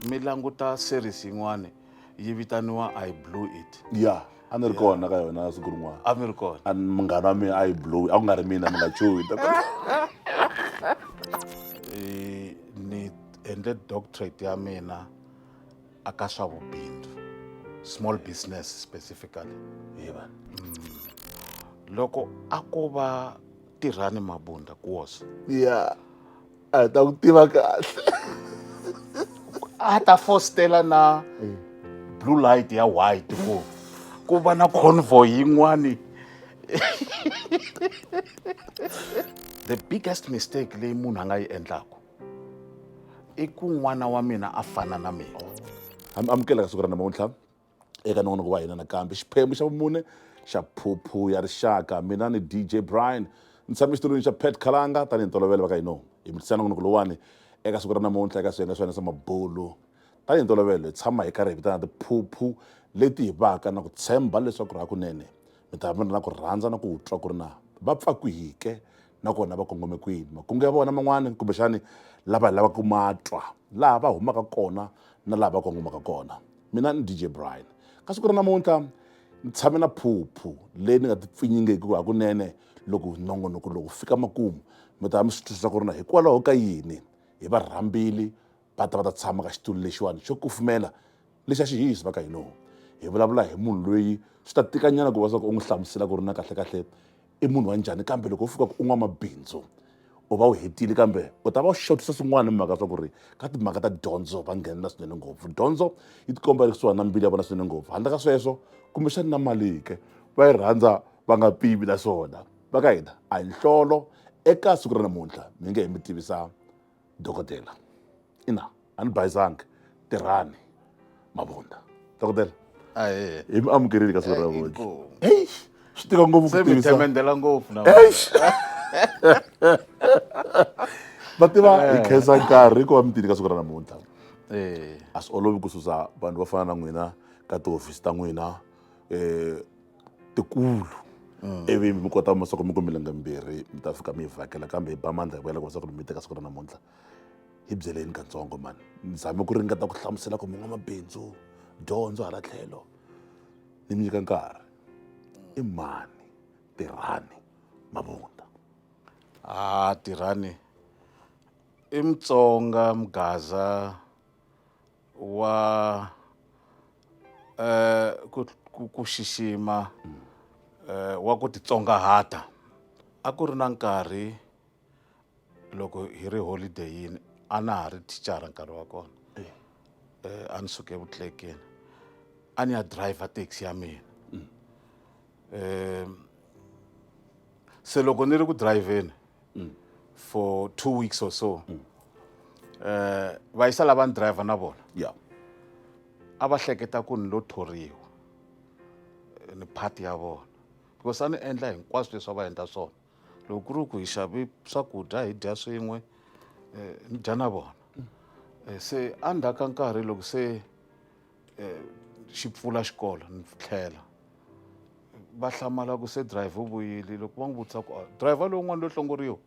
mi languta series yin'wana yi vitaniwa i blew it ya a ni ri kona ka yona siku rin'wana a mi ri kona a ni- munghana wa mina a yi blow a ku nga ri mina mi nga chuhi Eh, ni endle doctorate ya mina a ka swa vubindzu small business specifically hi va loko a ko va tirhani mabunda kuwoso ya a hi ta ku tiva kahle a ta fostela na blue light ya white ku ku va na convoy yin'wani the biggest mistake leyi munhu a nga yi endlaku i ku n'wana wa mina a fana na mina amukeleka siku ra namuntlha eka nongonoko wa hina nakambe xiphemu xa vumune xa phuphu ya rixaka mina ni dj brian ni tshame xitulwini xa pet khalanga tanihi ntolovelo va ka hino hi mitisa nongonoko lowani eka siku ra namuntlha eka swiyenge swa hina swa mabulu tanihi ntolovelo hi tshama hi karhi hi vitana tiphuphu leti hi vaka na ku tshemba leswaku ri hakunene mi ta va mi ri na ku rhandza na ku twa ku ri na va pfakwihike na kona va kongome kwini makungu ya vona man'wani kumbexani lava hi lavaka ku ma twa laha va humaka kona na laha va kongomaka kona mina ni dj brian ka siku ra namuntlha ni tshame na phuphu leyi ni nga ti pfinyingeki hakunene loko nongonoko lowu fika makumu mi ta mi swi twisisa ku ri na hikwalaho ka yini hi varhambili va ta va ta tshama ka xitulu lexiwani xo kufumela lexi a xi hihisi va ka hinoho hi vulavula hi munhu loyi swi ta tikanyana ku va swa ku u n'wi hlamusela ku ri na kahlekahle i munhu wa njhani kambe loko u fika ku u n'wamabindzu u va u hetile kambe u ta va u xotisa swin'wana mhaka swa ku ri ka timhaka ta dyondzo va nghenelela swinene ngopfu dyondzo yi tikomba yi ri kusuhani na mbili ya vona swinene ngopfu handle ka sweswo kumbexani na mali ke va yi rhandza va nga pivi naswona va ka hina a hi nhlolo eka siku ra namuntlha mi nge he mi tivisa dokodela ina a ni bayizangi tirhani mavunda dokodela ahee hi mi amukerile ka siku ra vona heyi swi tika ngopfu ku tivisa semendela ngopfu na va tiva hi eh. khensa nkarhi ku va mi tini ka siku ra namuntlha eh. a swi olovi ku susa vanhu va fana na n'wina ka tihofisi ta n'wina um tikulu mm. ivi mi kota masiku mi ku milenge mbirhi mi ta fika mi yi vhakela kambe hi ba mandla hi vuyela ku masiku mi teka siku ra namuntlha hi byeleni katsongo mani ni zame ku ringeta ku hlamusela ku mun'wamabindzu dyondzo hala tlhelo ni mi nyika nkarhi mm. i mani tirhani mavunda a ah, tirhani i mutsonga mugaza wa eh, ku, ku, ku xixima eh, wa ku titsongahata a ku ri na nkarhi loko hi ri holideyini a na ha ri thicara nkarhi wa kona eh, a ni suke evutlekeni a ni ya driver taxi ya mina um se loko ni ri ku drivheni mm. for two weeks or so mm. eh va yisa lava ni driver na vona yeah a va hleketa ku ni lo thoriwa eh, ni party ya vona because a ni endla hinkwaswo leswi a va endla swona loko ku ri ku hi xavi swakudya hi dya swin'we eh, ni dya na vona eh, se a ndzhaku ka nkarhi loko se eh, xi pfula xikolo ni tlhela va hlamala ku se driver u vuyile loko va n'wi vutisa ku ah, driver lowun'wana lo hlongoriwa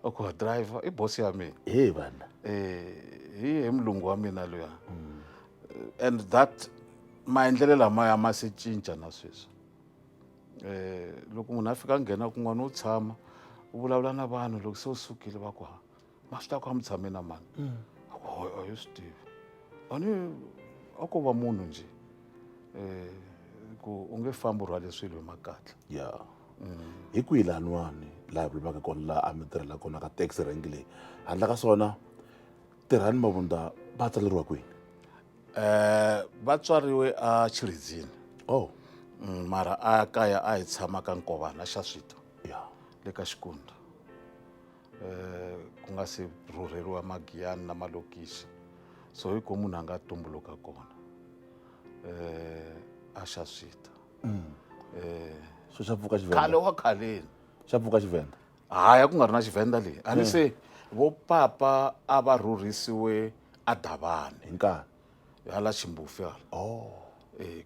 a ku ah, driver i bosi ya mina hi vana eh, hi hi mulungu wa mina luya mm. and that maendlelo lamaya ma se cinca na sweswi eh loko munhu a fika a nghena kun'wana u tshama u vulavula na vanhu loko se u sukile va ku ha mahla ku a mi tshame na mani a ku a yo swi tivi a ni a ko va munhu njhe um ku u nge fambi u rhwale swilo hi makatla ya hi kwihi laniwani laha hi vulavulaka kona laha a mi tirhela kona ka taxi rank leyi handla ka swona tirhani mavundza va tsaleriwa kwini um va tswariwe a chiridzini oh Mm, mara a kaya a hi tshama ka nkovana xa swita ya le ka xikundza eh, ku nga se rhurheriwa magiyani na malokixi so hi ko munhu a nga tumbuluka kona eh, a xa swita mm. eh, so xa pfuka xivenda khale wa khaleni xa pfuka xivenda haya ku nga ri na xivenda leyi a ni se vo papa a va rhurhisiwe a davani hi nkarhi hala ximbufi hala oh. eh,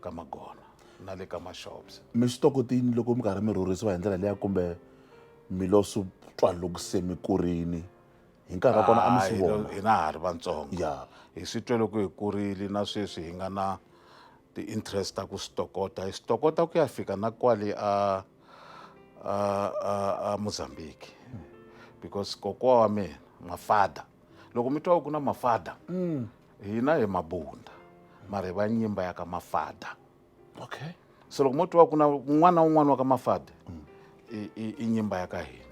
ka magona na le ka mashops mi swi tokotini loko mi karhi mi rhurhisiwa hi ndlela liya kumbe mi lo swi twa loko se mi kurini hi nkarhi wa kona a mi swi vona hina ha ri vantsongo yeah. hi swi twe loko hi kurile na sweswi hi nga na ti-interest ta ku swi tokota hi swi tokota ku ya fika na kwale a a a a mozambique because kokwa wa mina mafada loko mi twa ku na mafada mm. hina hi mabunda mara hi va nyimba ya ka mafada okay so loko mo twa ku na un'wana na un'wana wa ka mafade i- i i nyimba ya ka hina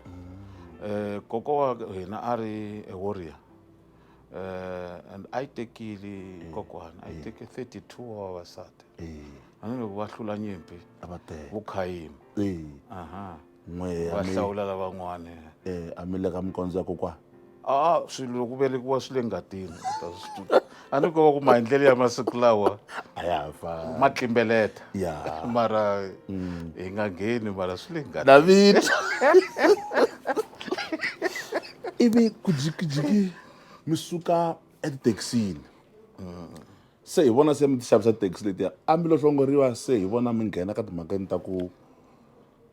um koko wa hina a ri a warrior um and a yi tekile kokwana a yi teke 32 wa vavasati Eh, tanihiloko va hlula nyimpi a va tele vukhayimi Eh, aha n'we ya va mi hlawula lavan'wani eh, a mi le ka mikondzo ya kokwana a swilo loko velekiwa swi le ngatini u ta swi tiva. a ni kova ku maendlelo ya masiku lawa a ya ha fani ma tlimbeleta ya mara hi nga ngheni mara swi le ngatini david ivi ku jikijiki mi suka etithekisini se hi vona se mi ti xavisa taxi letiya a mi lo hlongoriwa se hi vona mi nghena ka timhakeni ta ku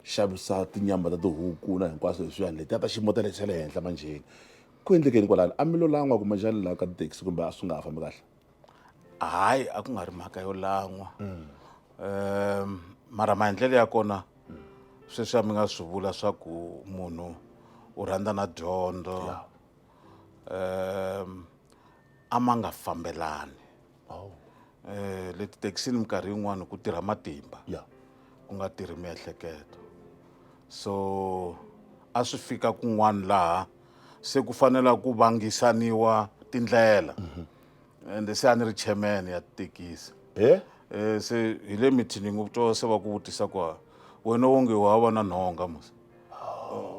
xavisa tinyama ta tihuku na hinkwaswo leswiyani letiya ta xiyimo ta le xa le henhla manjheni ku endlekeni kwalano a mi lo lan'wa kumbe njhani laha ka tithekisi kumbe a swi nga ha fambi kahle hayi a ku nga ri mhaka yo lan'wa um mara maendlelo ya kona sweswi a mi nga swi vula swa ku munhu u rhandza na dyondzo um a ma nga fambelani oh. eh, le tithekisini minkarhi yin'wani ku tirha matimba yeah. ku nga tirhi miehleketo so a swi fika kun'wana laha se ku fanela ku vangisaniwa tindlela mm -hmm. ende se a ni ri chairman ya tithekisi eh? eh, se hi le mithiningi u twa se va ku vutisa ku wena wonge wa va na nhonga mos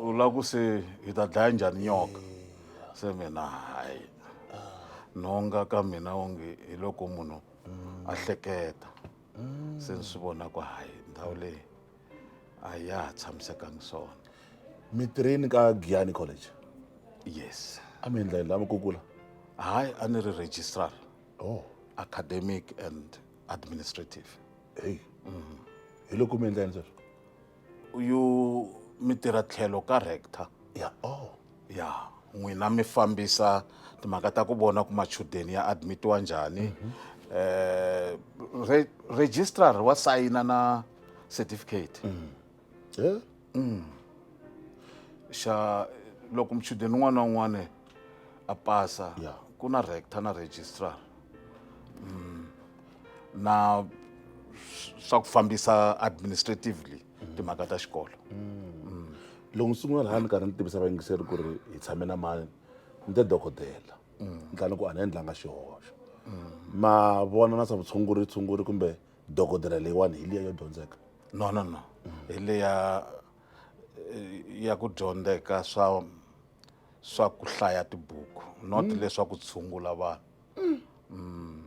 u lava ku se hi ta dlaya njhani nyoka se mina hayi nhonga ka mina onge hi loko munhu a hleketa se ni swi vona ku hayi ndhawu leyi a ya ha tshamisekangi swona mi tirheni ka giyani college yes a mi endla yini lava kukula hayi a ni ri registrar oh academic and administrative heyi hi loko mi endla yini sweswo uyu mi tirha tlhelo ka rector ya oh ya n'wina mi fambisa timhaka ta ku vona ku machudeni ya admitiwa njhani mhm. eh re, registrar wa sayina na certificate mm. yeah. mm. xa loko mchudeni un'wana na un'wana a pasa yeah. ku na rector na registrar mm. na swa ku fambisa administratively timhaka ta xikolo loko ni sungula laha ni karhi ni tivisa vayingiseri ku ri hi tshame na mani ni te dokodela ni tlani ku a ni endlanga xihoxo ma vona na swa vutshunguri tshunguri kumbe dokodela leyiwani hi liya yo dyondzeka no no no hi leya eh, ya ku dyondzeka swa swa ku hlaya tibuku not leswaku tshungula vanhu mm.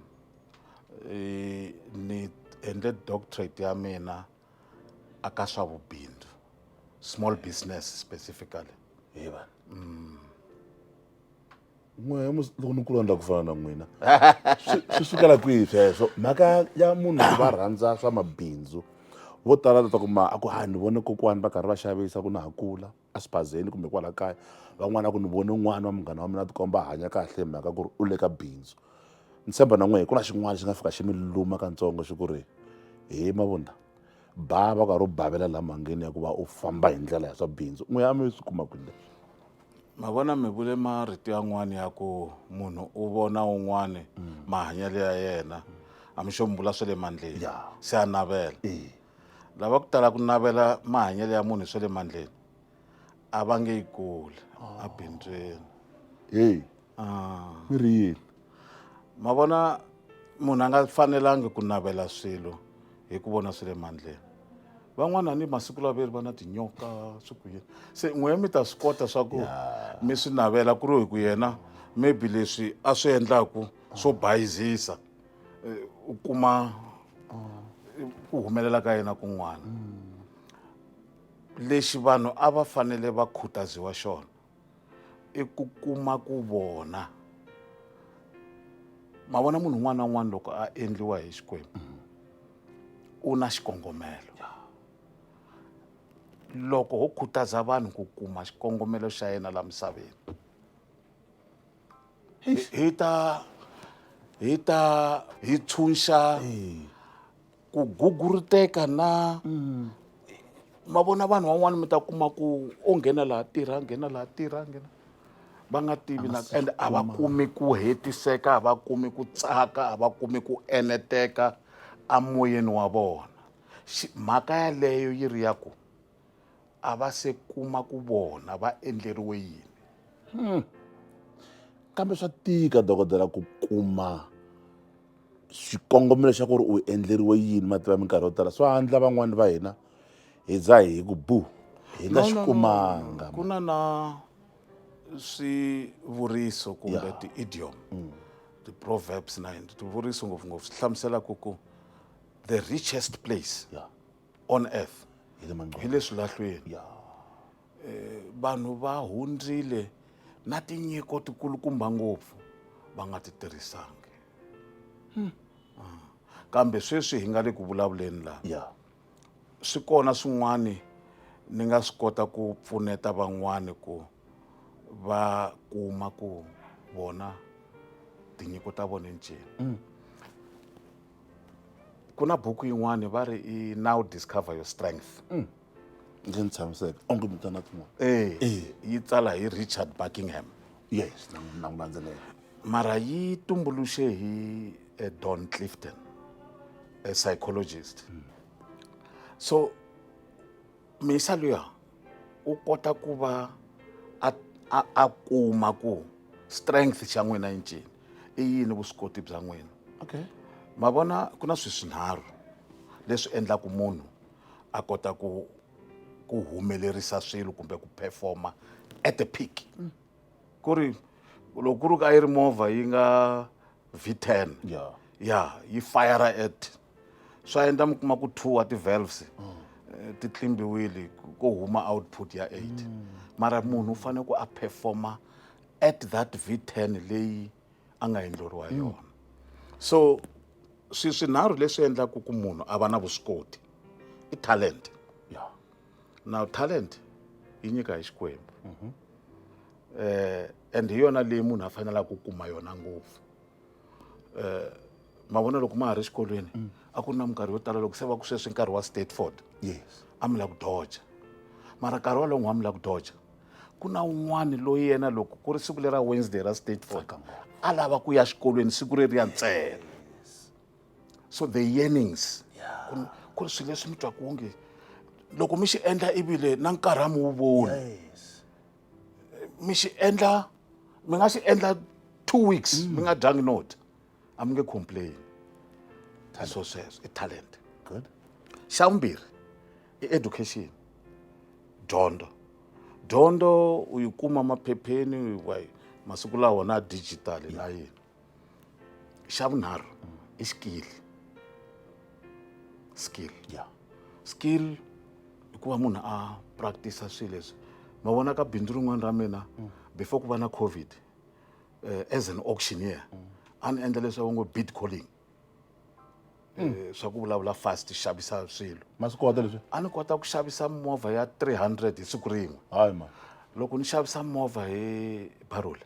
e, ni endle doctorate ya mina aka swa vubindzu small business specifically hiva mm. n'we loko ni kulondla ku fana na n'wina swi sukela kwihi sweswo mhaka ya munhu va rhandza swa mabindzu vo tala leswaku ma a ku ha ni vone kokwani va karhi va xavisa ku na ha kula a xibazeni kumbe kwala kaya van'wana ku ni vone n'wana wa munghana wa mina a tikomba a hanya kahle hi mhaka ku ri u le ka bindzu ni tshemba na n'we hi ku na xin'wana xi nga fika xi mi luma katsongo xi ku ri he mavunda ba va karhi u bavela laha mhangeni ya ku va u famba hi ndlela ya swa bindzu n'we a mi swi kuma kwini leswi ma vona mi vule marito yan'wana ya ku munhu u vona un'wana mahanyelo ya yena a mi xo mi vula swa le mandleni Ya. se a navela Eh. lava ku tala ku navela mahanyelo ya munhu swa le mandleni a va nge yi kuli a bindzweni heyi ah. mi ri yini ma vona munhu a nga fanelangi ku navela swilo hi ku vona swi le mandleni van'wana ni masiku lawa veri va na tinyoka swi ku yini se n'wehe mi ta swi kota swa ku mi swi navela ku ri hi ku yena maybe leswi a swi endlaku swo bayizisa eh, u kuma eh, ku humelela ka yena kun'wana lexi vanhu a va fanele va khutaziwa xona i ku kuma ku vona ma vona munhu un'wana na un'wana loko a endliwa hi xikwembu u na xikongomelo loko ho khutaza vanhu ku kuma xikongomelo xa yena la misaveni hi hi ta hi ta hi tshunxa ku guguruteka na mm. ma vona vanhu van'wana mi ta kuma ku o nghena laha tirha nghena laha tirha nghena va nga tivi na and a va kumi ku hetiseka a va kumi ku tsaka a va kumi ku eneteka emoyeni wa vona mhaka yaleyo yi ri ya ku a va se kuma ku vona va endleriwe yini hmm. kambe swa tika dokodela ku kuma xikongomelo xa ku ri u endleriwe yini mativa minkarhi yo tala swa handla van'wani va hina hi za hi ku bu hi nga xi kumanga ku na na swivuriso kumbe ti-idiom mm. ti-proverbs na yini swivuriso ngopfungopfu swi hlamusela ku ku the richest place yeah. on earth hi le manqoba hi le swilahlweni ya eh, vanhu va hundzile na tinyiko tikulukumba ngopfu va nga ti tirhisangi hmm. ah. kambe sweswi hi nga le ku vulavuleni laha ya swi kona swin'wani ni nga swi kota ku pfuneta van'wani ku va kuma ku vona tinyiko ta vona ncini mm. ku na buku yin'wani va ri i now discover your strength mm. ndzi ni tshamiseka onge mi tana tin'wana eh, eh. yi tsala hi richard buckingham yes na n'wi landzelela mara yi tumbuluxe hi eh, don clifton a psychologist mm. so misa luya u kota ku va a a a kuma ku strength xa n'wina i ncini i yini vuswikoti bya n'wina okay ma vona ku na swi swinharhu leswi endlaku munhu a kota ku ku humelerisa swilo kumbe ku performa at the peak mm. ku ri loko ku ri ka yi ri movha yi nga v ten ya ya yi fire at swa endla mi kuma ku two wa ti-valves eh, ti tlimbiwile ku- ko huma output ya eight mara munhu u fanele ku a performa at that v ten leyi a nga endleriwa yona so swi swinharhu leswi endlaka ku munhu a va na vuswikoti i talent ya now talent yi nyika hi xikwembu eh and hi yona leyi munhu a fanelaka ku kuma yona ngopfu eh, mavona loko ma ha ri exikolweni mm. a ku ri na minkarhi yo tala loko se va ku sweswi nkarhi wa stateford yes a mi la ku doja mara nkarhi walowo n'wa mi la ku doja ku na un'wana loyi yena loko ku ri siku lera wednesday ra stateford a lava ku ya xikolweni siku ri ri ya ntsena so the yearnings ku ri swilo leswi mi twaku onge loko mi xi endla ivile na nkarhi a mi wu voni mi xi endla mi nga xi endla two weeks mm. mi nga dyangi no dya a mi nge complain so sweswo i talent good xa vumbirhi i education dyondzo dyondzo u yi kuma maphepheni masiku lawa na digital na yini xa vunharhu i skill skill ya skill i ku va munhu a practice swilo leswi ma vona ka bindzu rin'wana ra mina before ku va na covid eh, as an auctioneer a ni endla leswaku ngo bid calling Eh, swa ku vulavula fast xavisa swilo ma swi kota leswi a ni kota ku xavisa movha ya 300 hi siku rin'we hayi ma loko ni xavisa movha hi barula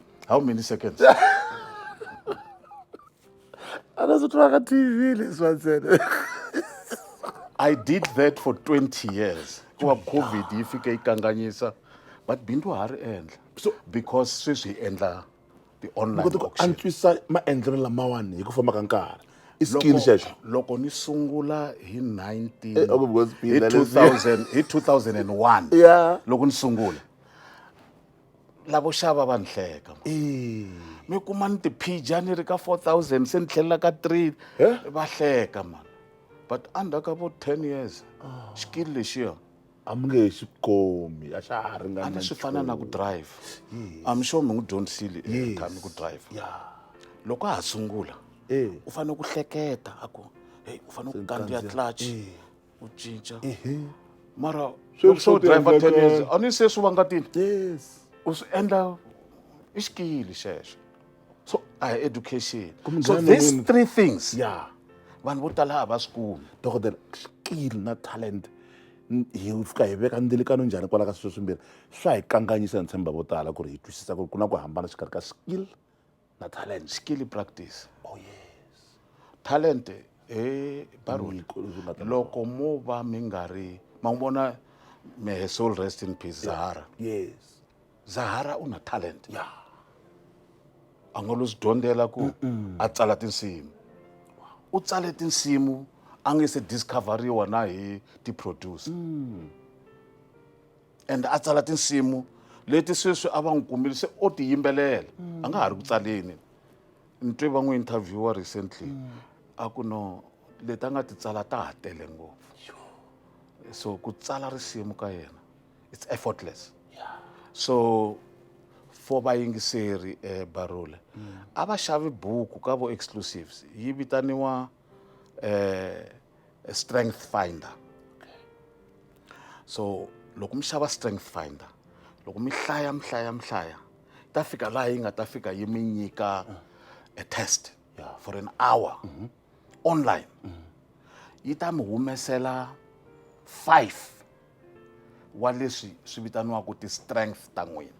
how many seconds anazotwaka tv leswa ntsena i did that for 20 years kuva covid yi fike yi kanganyisa but bindu ha ri endla so because sweswi hi endla antswisa maendlelo lamawani hi ku famba ka nkarhi i skill xexo loko ni sungula hi 19 eh, hi 2001 loko ni sungula lavo xava va ni hleka mi kuma ni tiphija ni ri ka four thousand se ni tlhelela ka three va hleka mani but under ka vo ten years ah. xikili lexiya a mi nge xi komi a xa ha ringana swi fana na ku drive am sure mi n'wi dyondzisile tshami ku drive loko a ha sungula u fanele ku hleketa a ku heyi u fanele ku kandziya clutch u cinca ehe mara Sweswi loko se swo u driver ten tiendleka- years a ni se swi vangatini yes u swi endla i xikili xexo so a hi education so Kumbe these wena- three things ya vanhu vo tala a va swi kumi dokodela skill na talent n- hi fika hi veka ndzilikano njhani kwala ka sweswi swimbirhi swa hi kanganyisa ni tshemba vo tala ku ri hi twisisa ku ri ku na ku hambana xikarhi ka skill na talent skill practice oh yes talent eh baroni Nyiko leswi nga ta- loko mo va mi nga ri ma n'wi vona may her soul rest in peace zahara yes zahara u na talent ya a nga lo swi dyondzela ku a tsala tinsimu u tsale tinsimu a nge se discoveriwa na hi ti-producer ende a tsala tinsimu leti sweswi a va n'wi kumile se o ti yimbelela a nga ha ri ku tsaleni ni twe va n'wi interviewer recently a ku no leti a nga ti tsala ta ha tele ngopfu so ku tsala risimu ka yena it's effortless so for vayingiseri eh, barula a va xavi buku ka vo exclusives yi vitaniwa eh, a strength finder so loko mi xava strength finder loko mi hlaya mi hlaya mi hlaya ta fika laha yi nga ta fika yi mi nyika a test for an hour mm -hmm. online mm -hmm. yi ta mi humesela five wa leswi swi vitaniwaka ti-strength ta n'wina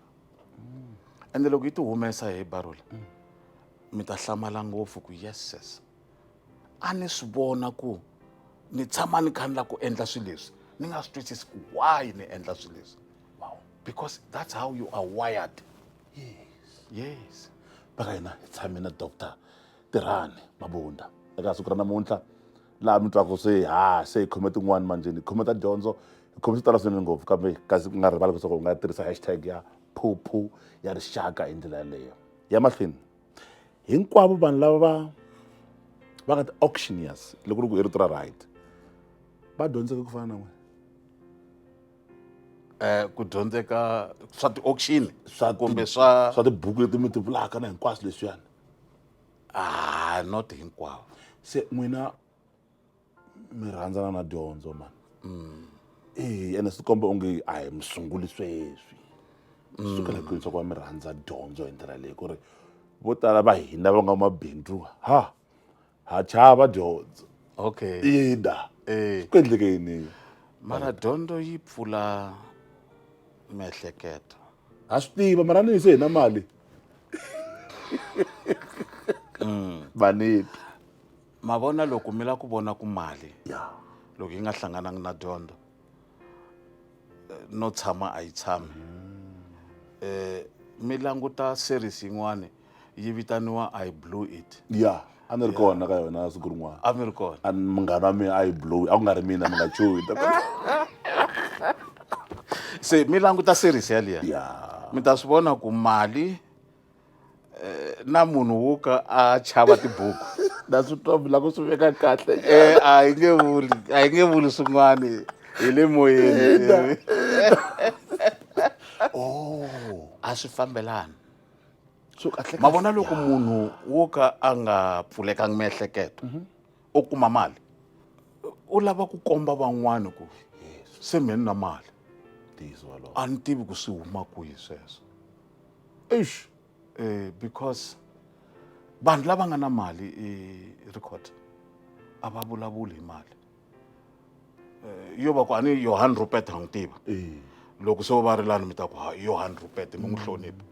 mm. ende loko yi ti humesa hi barula mm. mi ta hlamala ngopfu ku yeses a ni swi vona ku ni tshama ni kha ni lava ku endla swilo leswi ni nga swi twisisi ku why ni endla swilo leswi wow because that's how you are wired yes yes baka hina hi tshame na doctor tirhani mabunda eka siku ra namuntlha laha mi twaka se ha se hi khome tin'wani manjeni hi khome ta dyondzo hi khome swi tala swinene ngopfu kambe kasi ku nga rivali leswaku u nga tirhisa hashtag ya phuphu ya rixaka hi ndlela yaleyo ya mahlweni hinkwavo vanhu lava va va nga ti-auctioneers loko ri ku i rito ra right va dyondzeke ku fana na n'wina um ku dyondzeka swa ti-auction swa kumbe swa swa tibuku leti mi ti vulaka na hinkwaswo leswiyani ah not hinkwavo se n'wina mi rhandzana na dyondzo mani mm. eyi ene swi komba onge a hi mi sunguli sweswi mm. sukela kwihi swa ku va mi rhandza dyondzo hi ndlela leyi ku ri vo tala va hina va nga mabindzu ha ha chava dyondzo okay ina eh. ku endleke yini mara dyondzo yi pfula miehleketo ha swi tiva mara ni yise hina mali mm. vaneti ma vona loko mi lava ku vona ku mali ya loko yi nga hlanganangi na dyondzo eh, no tshama a yi tshami um mi languta series yin'wani yi vitaniwa i blew it ya a ni ri kona ka yona siku rin'wana a mi ri kona a ni- munghana wa mina a yi blowi a ku nga ri mina mi nga chuhi se mi languta series yaliya ya mi ta swi vona ku mali eh, na munhu wo ka a chava tibuku na swi twa mi lava ku swi veka kahle eh, a hi nge vuli a hi nge vuli swin'wani hi le moyeni oh. a swi fambelani ma vona loko munhu wo ka a nga pfulekanga miehleketo mhm. u kuma mali u lava ku komba van'wana ku se mheni na mali a ni tivi ku swi huma kwihi sweswo eish eh, because vanhu lava nga na mali eh, record a va vulavuli hi mali eh, yo va ku a ni yohan rupet ha n'wi tiva eh. loko se va ri lani mi ta ku ha yohan rupet mi n'wi hlonipha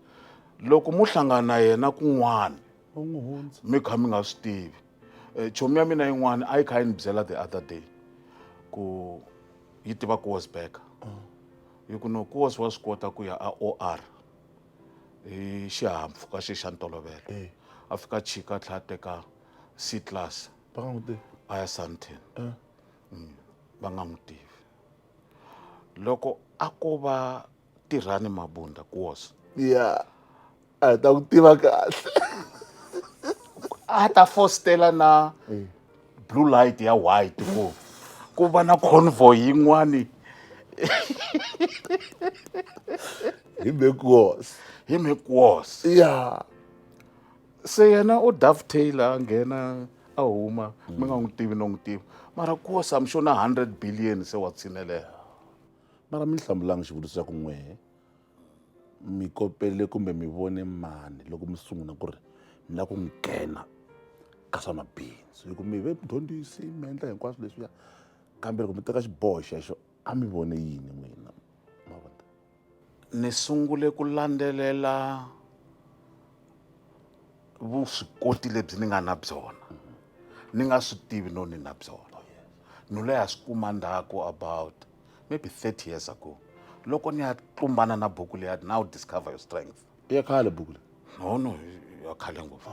loko mo hlangana na yena kun'wana mi kha mi nga swi tivi eh, chomi ya mina yin'wana a yi kha yi ni byela the other day ku yi tiva ku was back ah. hi ku nokosi wa swi kota ku ya a OR hi xihahampfhuka xe xa ntolovelo eh. a fika chika a tlhela a teka C class va nga n'wi tivi a ya Sandton eh. mm. va nga n'wi tivi loko a ko va tirhani mabunda kuosa yeah. a hi ta ku tiva kahle a ta fostela na eh. blue light ya white ku ku va na convoy yin'wani hi mekuos hi mekuos ya se yena u dovetail a nghena a huma mi nga n'wi tivi no n'wi tivi mara kuosa mi xo na hundred billion se wa tshinelela mara mi hlamulanga xivutiso xa ku n'wehe mi kopele kumbe mi vone mani loko mi sungula ku ri mi lava ku nghena ka swa mabindzu hi ku mi ve mdyondzisi mi endla hinkwaswo leswiya kambe loko mi teka xiboho xexo a mi vone yini n'wina ma vona ni sungule ku landzelela vuswikoti lebyi ni nga na byona ni nga swi tivi no ni na byona no leha swi kuma ndzhaku about maybe 30 years ago loko ni ya tlumbana na buku leya now discover your strength i ya khale buku leyi no no i ya khale ngopfu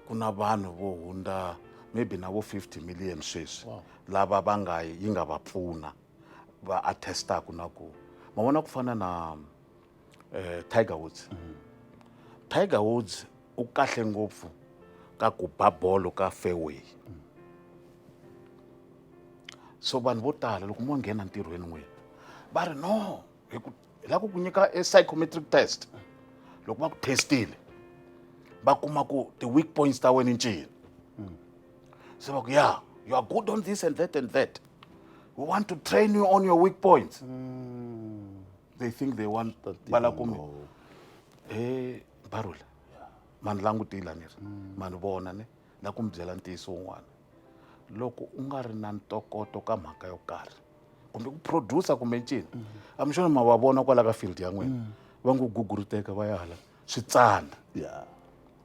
ku na vanhu vo hundza maybe na vo 50 million sweswi lava va nga yi nga va pfuna va attestaku na ku ma vona ku fana na eh, tiger woods mm. tiger woods u kahle ngopfu ka ku ba bolo ka fairway mm. so vanhu vo tala loko mo nghena ntirhweni n'wini va ri no hi ku hi lava ku ku nyika e psychometric test loko va ku testile va kuma ku ti-weak points ta wena ncini hmm. se va ku ya you are good on this and that and that we want to train you on your weak points hmm. they think they want va la kumbe he barula mani langutila ni ri mani vona ni na ku mi byela ntiyiso wun'wana loko u nga ri na ntokoto ka mhaka yo karhi kumbe ku producer kumbe ncini a mi xona ma va vona kwala ka field ya n'wina va ngo guguruteka va ya hala switsandza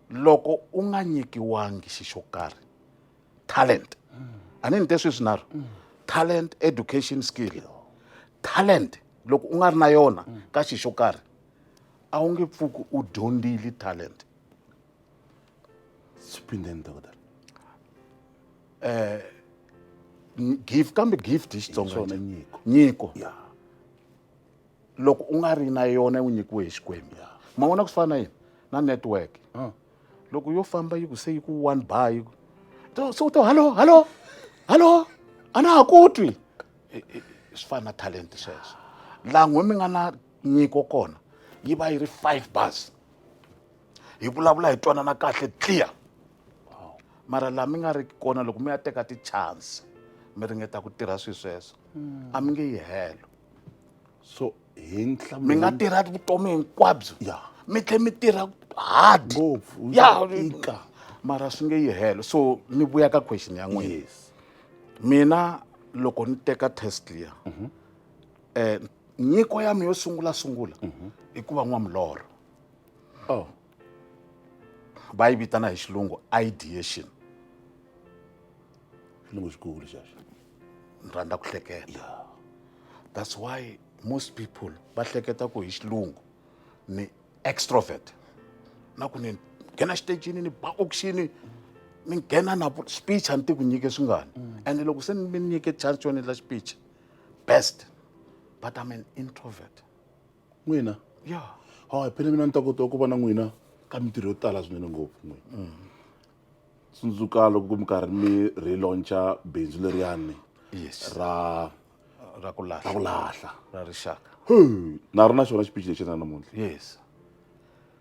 loko u nga nyikiwangi xi xo karhi talent a ni ni te sweswi naro talent education skill talent loko u nga ri na yona ka xi xo karhi a wu nge pfuki u dyondzile talent swiphindeni dokotela eh, gift kambe gift hi xitsongo nyiko nyiko loko u nga ri na yona u nyikiwe hi xikwembu ma vona ku swi fana na yini na network loko yo famba yi ku se yi ku one bar yi ku to so to hallo hallo hallo a na ha ku twi swi fana na talent sweswo laha n'we mi nga na nyiko kona yi va yi ri five bars hi vulavula hi twanana kahle clear mara laha mi nga ri kona loko mi ya teka ti-chance mi ringeta ku tirha swilo sweswo a mi nge yi helo so hi nhlamulo mi nga tirha vutomi hinkwabyo ya mi tlhe mi tirha hard ngopfu ya ika mara swi nge yi helo so ni vuya ka question ya n'wina yes mina loko ni teka test liya eh nyiko ya mi yo sungula sungula i ku va n'wamulorho oh va yi vitana hi xilungu ideation xilungu xikulu xexo ni rhandza ku hleketa that's why most people va hleketa ku hi xilungu ni extrovert na ku ni nghena xitejini ni ba auction ni nghena na speech a ni ti ku nyike swingani mm. and loko se mi nyike chance yo ni la speech best but i'm an introvert n'wina ya ha phela mina ni ta kota ku va na n'wina ka mintirho yo tala swinene ngopfu n'wina mm. tsundzuka loko mi karhi mi relauncha bindzu leriyani yes ra ra ku lahla ra ku lahla ra rixaka na ri na xona xiphichi lexi na namuntlha yes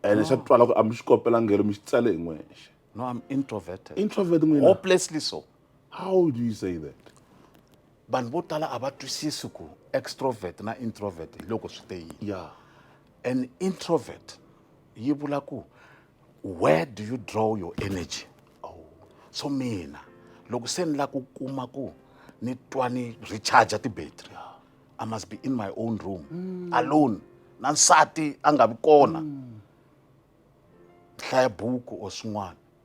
ene xa twala ku a mi xi kopelanghelo mi xi tsale hi n'wexe no i'm introverted introvet n'wina hopelessly so how do you say that vanhu vo tala a va twisisi ku extrovert na introvert hi loko swi te yini yeah. an introvert yi vula ku where do you draw your energy oh. so mina loko se ni la ku kuma ku ni twa ni recharge ti-battery yeah. i must be in my own room mm. alone na nsati a nga vi kona mm. hlaya buku or swin'wana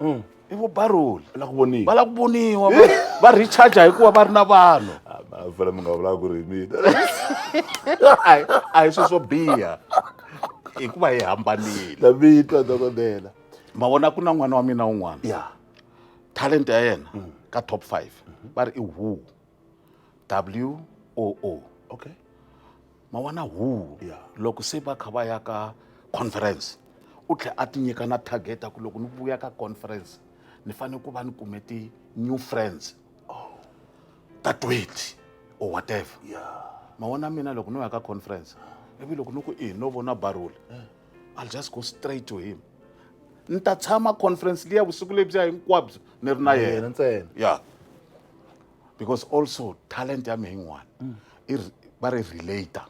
mm. i vo baroli va lava ku voniwa va lava ku voniwa va recharge hikuva va ri na vanhu fela mi nga vulaka ku ri hi mina a hi swi swo biha hikuva hi hambanile na vitwa dokodela ma vona ku na n'wana wa mina un'wana ya talent ya yena mm. ka top five va ri i who w o o okay ma wana huwo yeah. loko se va kha va ya ka conference u tlhe a tinyika na target ku loko ni vuya ka conference ni fanele ku va ni kume ti-new friends oh. ta twenty or whatever yeah. ma wana mina loko no ya ka conference ivi loko ni ku i no vona barula eh. i'll just go straight to him ni ta tshama conference liya vusiku lebyiya hinkwabyo ni ri na yena ntsena ya yeah. because also talent ya mehe yin'wana mm. i va ri relator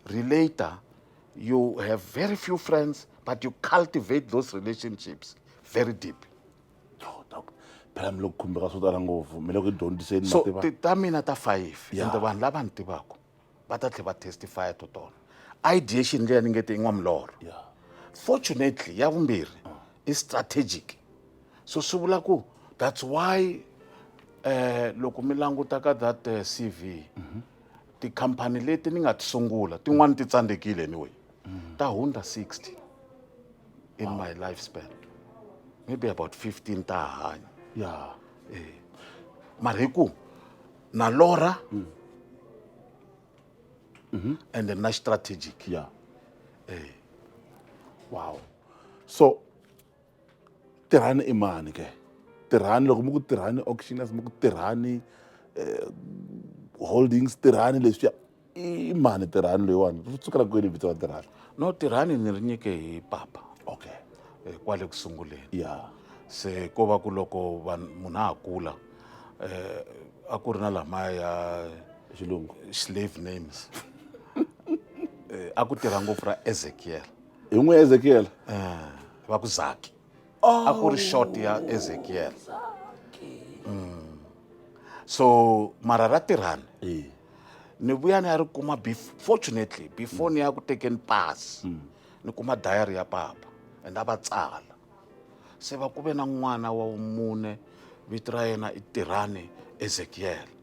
relator you have very few friends but you cultivate those relationships very deep oh, phela mi lo khumbeka swo tala ngopfu mi le ku dyondziseni so ta mina ta five ende vanhu lava ni tivaka va ta tlhe va testifya to tona ideation leyi ni nge te in'wa milorho yeah. fortunately ya vumbirhi uh. i strategic so swi vula ku that's why eh loko mi languta ka that uh, eh, cv mm -hmm. tikhampani leti ni nga ti sungula tin'wani ti tsandzekile anyway mm -hmm. ta hundza 60 in wow. my lifespan maybe about 15 ta hanya yeah. eh. mara hi ku na lora mm. mm -hmm. and na strategic yeah. hey. Eh. wow so tirhani i mani ke tirhani loko mi ku tirhani auctioners mi ku tirhani eh, holdings tirhani leswiya i mani tirhani loyiwani ri tsukela kwini vito ra tirhani no tirhani ni ri nyike hi papa okay eh, kwale ku sunguleni ya se ko va ku loko vanhu munhu a ha kula eh, a ku ri na lamaya ya xilungu slave names Eh, a ku tirha ngopfu ra ezekiel hi n'wi ezekiel Eh, va ku zaki a ku ri short ya ezekiel Mm. so mara ra tirhani Eh. ni vuya ni ya ri kuma fortunately before ni ya ku tekeni pasi mm. ni kuma diary ya papa and a va tsala se va ku ve na n'wana wa vumune vito ra yena i tirhani ezekiele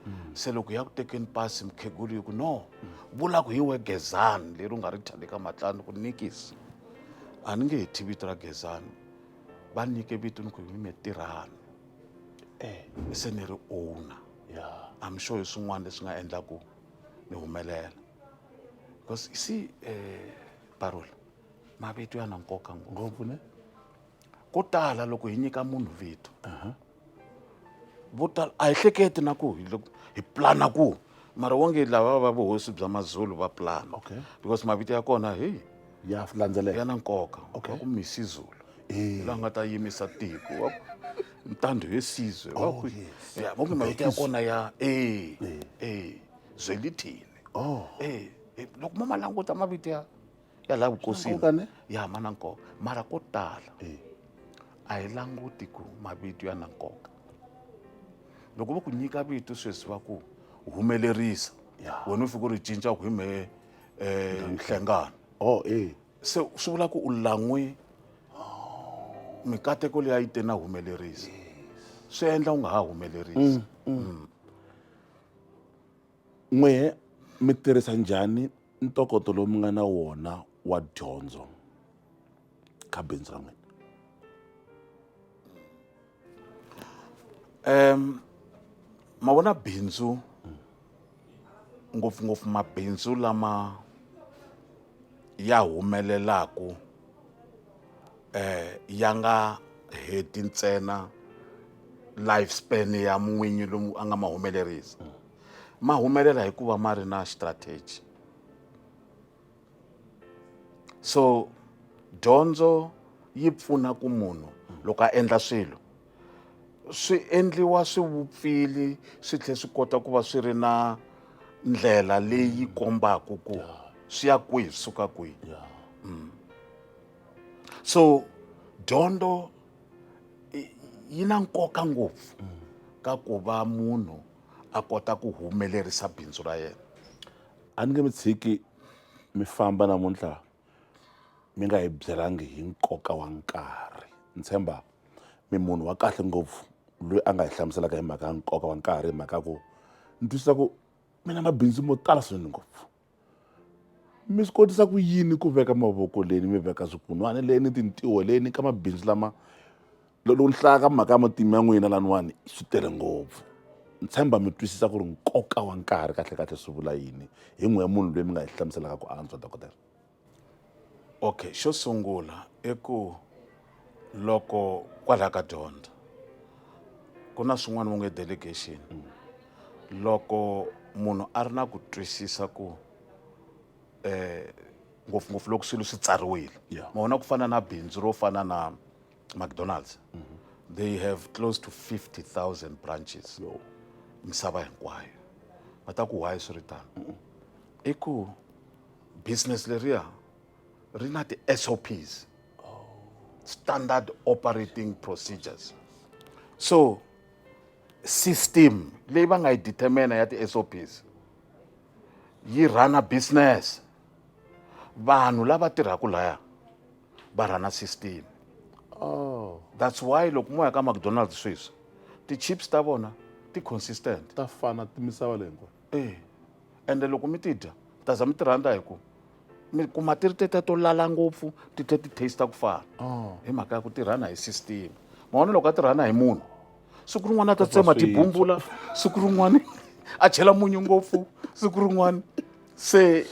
mm. se loko ya ku tekeni pasi mukhegulu yi ku no mm. vula ku hi we gezani leri u nga ri thya le ka matlani ku nikisi a ni nge he thyi vito ra gezani va nyike vito ni ku hi mime tirhani e se ni ri owner yeah i'm sure hi swin'wana leswi nga endlaku ni humelela because you see um parole mavito ya na nkoka ngopfu ne ko tala loko hi nyika munhu vito vo tala a hi hleketi na ku hi loko hi plana ku mara wonge lava va vuhosi bya mazulu va plana okay because mavito ya kona heyi ya landzeleka ya na nkoka okay. wa ku misi zulu eh. la nga ta yimisa tiko wa ntandhu he sizwe wa oh, ku yes. ya mo mavito ya kona ya eh eh, eh. zwelithini oh eh, eh loko mo malanguta mavito ya ya la vukosini ya ma na nkoka mara ko tala eh. a hi languti ku mavito ya na nkoka loko va ku nyika vito sweswi va ku humelerisa wena u fika u ri cinca ku hi mehe um nhlengano oh e se swi vula ku u lan'we mikateko leyi a yi te na humelerisa swi endla u nga ha humelerisi mm, mm. n'wehe mi tirhisa njhani ntokoto lowu mi nga na wona wa dyondzo ka bindzu ra n'wina um ma vona bindzu ngopfungopfu mabindzu lama ya humelelaku eh ya nga heti ntsena life span ya n'winyi lomu a nga ma humelerisa ma humelela hikuva ma ri na strategy so dyondzo yi pfuna ku munhu loko a endla swilo swi endliwa swi vupfili swi tlhela swi kota ku va swi ri na ndlela leyi kombaka ku swi ya kwihi swi suka kwihi mm. so dyondzo yi na nkoka ngopfu ka ku va munhu a kota ku humelerisa bindzu ra yena a ni nge mi tshiki mi famba namuntlha mi nga hi byelangi hi nkoka wa nkarhi ni tshemba mi munhu wa kahle ngopfu loyi a nga hi hlamuselaka hi mhaka ya nkoka wa nkarhi hi mhaka ya ku ni twisisa ku mi na mabindzu mo tala swinene ngopfu mi swi kotisa ku yini ku veka mavoko leni mi veka swikunwana leni tintiho leni ka mabindzu lama loko ni hlaya ka mhaka ya matimu ya n'wina laniwani swi tele ngopfu ni tshemba mi twisisa ku ri nkoka wa nkarhi kahlekahle swi vula yini hi n'we ya munhu loyi mi nga hi hlamuselaka ku antswa dokodela okay xo sungula i ku loko kwalaho ka dyondzo ku na swin'wana vo nge delegation loko munhu a ri na ku twisisa ku um ngopfungopfu loko swilo swi tsariwile ma vona ku fana na bindzu ro fana na mcdonalds mm -hmm. they have close to 50000 branches no. misava hinkwayo va ta ku why swi ri tano mm -hmm. i ku business leriya ri na ti-sops oh. standard operating procedures so system leyi va nga yi determina ya ti-sops yi rhana business vanhu lava tirhaka laya va rhana system oh that's why loko mo ya ka mcdonald's sweswi ti-chips ta vona ti consistent ta fana ti misava leyi hinkwayo e ende loko mi ti dya mi ta za mi ti rhandza hi ku mi kuma ti ri tete to lala ngopfu ti tlhe ti taste ku fana oh. hi mhaka ya ku tirhana hi system mavona loko a tirhana hi munhu siku rin'wana a ta tsema tibumbula siku rin'wana a chela munyu ngopfu siku rin'wana se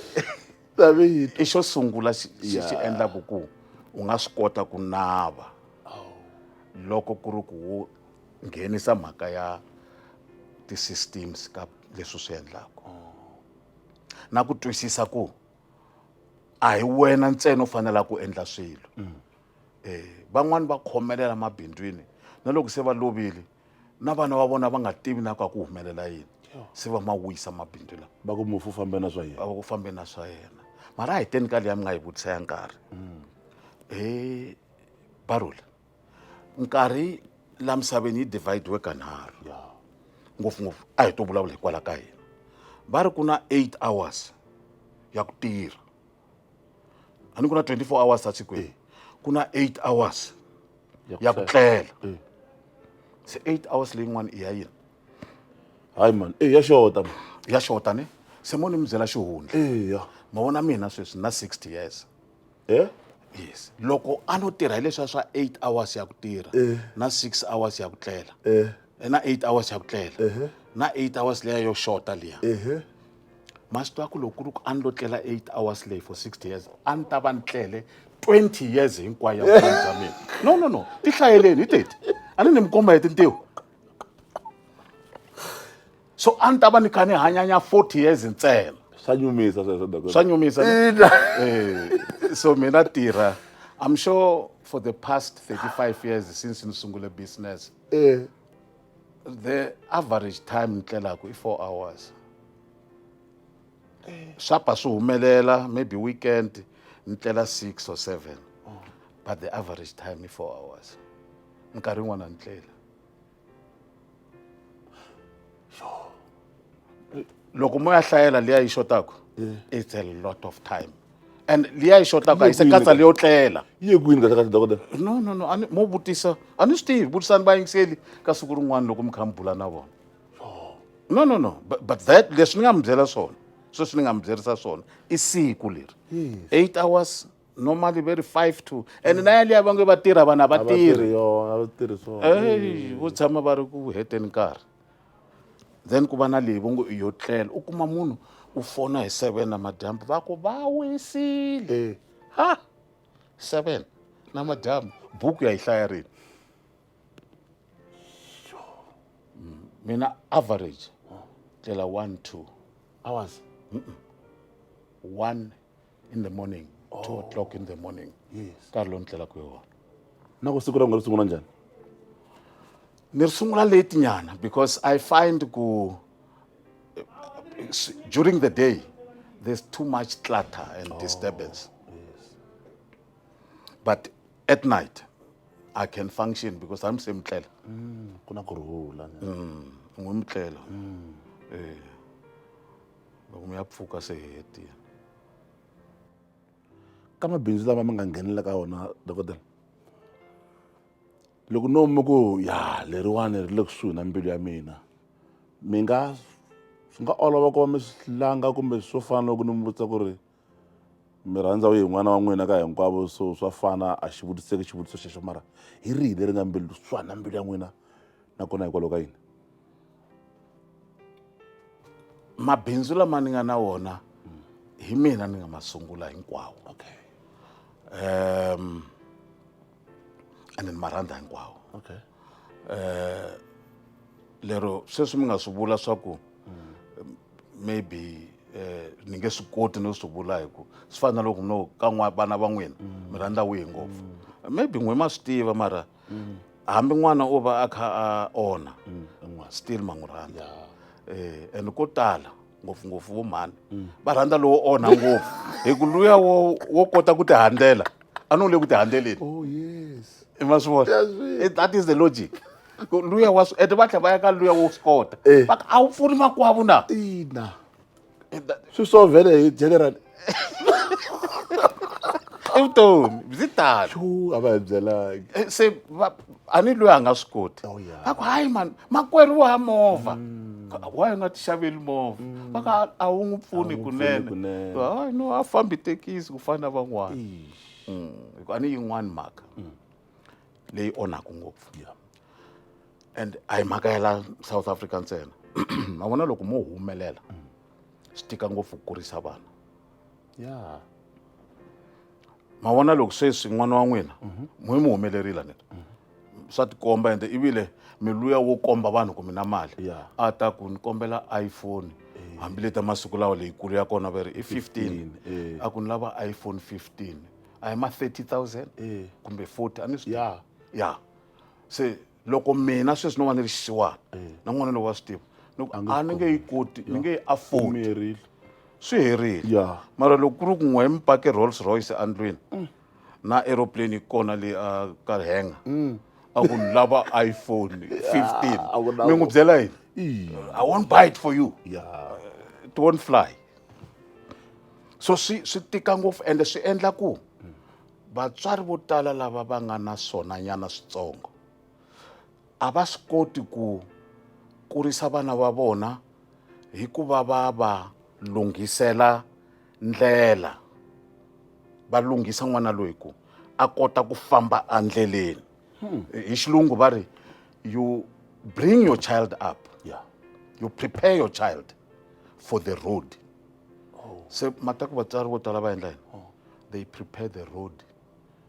i xo sungula xi xi xi endlaku ku u nga swi kota ku nava loko ku ri ku wo nghenisa mhaka ya ti-systems ka leswi swi endlaku na ku twisisa ku a hi wena ntsena u fanela ku endla swilo van'wani va khomelela mabindzwini na loko se va lovile na vana va vona va nga tivi na ku a ku humelela yini se va ma wisa mabindzu lawa va ku mufu fambe na swa yena va ku fambe na swa yena mara a hi teni ka leya mi nga yi vutisa ya nkarhi mm. he barula nkarhi la misaveni yi dividiwe kanharhu ngopfungopfu a hi to vulavula hikwalaho ka hina va ri ku na eight hours ya ku tirha a ni ku na 24 hours a sikwini ku na 8 hours ya ku tlela se 8 hours leyin'wana i ya yini hayi mani e ya xota man ya xota ni se mo ni mi byela xihundla eya ma vona mina sweswi na 60 years e yes loko a no tirha hi leswiya swa 8 hours ya ku tirha Eh. na 6 hours ya ku tlela e eh, na 8 hours ya ku tlela ehe na 8 hours leya yo xota liya ehe ma swi tiva ku loko ku ri ku a ni lo tlela eight hours lay for sixty years a ni ta va ni tlele twenty years hinkwayo ya vutomi bya mina no no no ti hlayeleni hi teti a ni ni mi komba hi tintiho so a ni ta va ni kha ni hanyanya forty years ntsena swa nyumisa sweswo dok swa nyumisa ne? Ina. Eh, so mina tirha i'm sure for the past 35 years since ni sungule business Eh. the average time ni tlelaku i four hours swa pa swi humelela maybe weekend ni tlela six or seven but the average time i four hours nkarhi yin'wana ni tlela loko mo ya hlayela liya yi xotaku eh. it's a lot of time and liya yi xotaku a yi se katsa leyo tlela yi ye kwini kahlekahle dokodela no no no ani mo vutisa a ni swi tivi vutisani vayingiseli ka siku rin'wana loko mi kha mi bula na vona no no no but, but that leswi ni nga mi byela swona sweswi ni nga mi byerisa swona i siku leri eight hours normally very five to and na yaliya va nge va tirha vanhu a va tirhi vo tshama va ri ku heteni nkarhi then ku va na leyi vo ngo i yo tlela u kuma munhu u fona hi seven namadyambu va ku va wisile ha seven namadyambu buku ya yi hlaya rini mm, mina average tlela one two hours one in the morning oh. two o'clock in the morning yes. nkarhi lowu ni tlelaka hi wona na ku siku ra n'we ri sungula njhani ni ri sungula late nyana because i find ku during the day there's too much clutter and oh. disturbance yes. but at night i can function because i'm same tlela mm, ku na ku rhula mm, n'wi mutlela mm. eh. loko mi ya pfuka se hi hetile ka mabindzu lama mi nga nghenela ka wona dokodela loko no mi ku ya leriwani ri le kusuhi na mbilu ya mina mi nga swi nga olova ku va mi swi langa kumbe swo fana loko ni mi vutisa ku ri mi rhandza wihi n'wana wa n'wina ka hinkwavo so swa fana a xi vutiseki xivutiso xexo mara hi rihi leri nga mbilu swa na mbilu ya n'wina nakona hikwalaho ka yini mabindzu lama ni nga na wona hi mina ni nga ma sungula hinkwawo okay um and ni ma rhandza hinkwawo okay eh lero sweswi mi nga swi vula swa ku maybe eh ni nge swi koti no swi vula hi ku swi fana na loko mi no ka n'wa vana va n'wina mi rhandza wihi ngopfu maybe n'we ma swi tiva mara hambi n'wana o va a kha a onha still ma n'wi rhandza eh and ko tala ngopfungopfu vo mhani mm. va rhandza lowo onha ngopfu hi ku luya wo wo kota ku ti handzela a ni wu le ku ti handzeleni oh, i ma swi vona that is the logic luya wa swi ende va tlhela va ya ka luya wo swi kota eh. va a wu pfuni makwavo na ina swi swo vhele hi general i vutomi byi tani Phew, a va hi byelanga Eh, se va- a ni loyi a nga swi koti Oh, yeah. va ku hayi mani makwerhu wa movha waye nga ti xaveli movha va ka a wu n'wi pfuni n'wi pfuni kunene kunene. hayi no a fambi tekisi ku fana na van'wana Mm, hikuva a ni yin'wani mhaka leyi onhaka ngopfu Yeah. and a hi mhaka ya la south africa ntsena ma vona loko mo humelela swi tika ngopfu ku kurisa vana ya ma vona loko sweswi n'wana wa n'wina mhm. mwe mi humelerile ni mhm. swa tikomba ende ivile mi luya wo komba vanhu ku mi na mali a ta ku ni kombela iphone eh. hambi leta masiku lawa leyikulu ya kona va ri i 15 eh. a ku ni lava iphone 15 a hi ma 30 000 eh. kumbe 40 a ni swi ya ya se loko mina sweswi no va ni ri xisiwana na n'wana lowu wa swi tiva ni ku a ni nge yi koti ni nge yi afford Merile. swi herile Yeah. mara loko ku ri ku n'we hi mi pake rolls royce endlwini na aeroplane yi kona le a ka henga a ku ni lava iphone 15 a ku na mi n'wi ku- byela yini Ii. i won't buy it for you Yeah. it won't fly so swi swi tika ngopfu ende swi endla ku Vatswari vo tala lava va nga na swonanyana switsongo a va swi koti ku kurisa vana va vona hi ku va va va lunghisela ndlela va lunghisa n'wana loyi ku a kota ku famba endleleni hmm. hi xilungu va ri you bring your child up yeah. you prepare your child for the road oh. se mhaka ku vatswari vo tala va endla yini oh. they prepare the road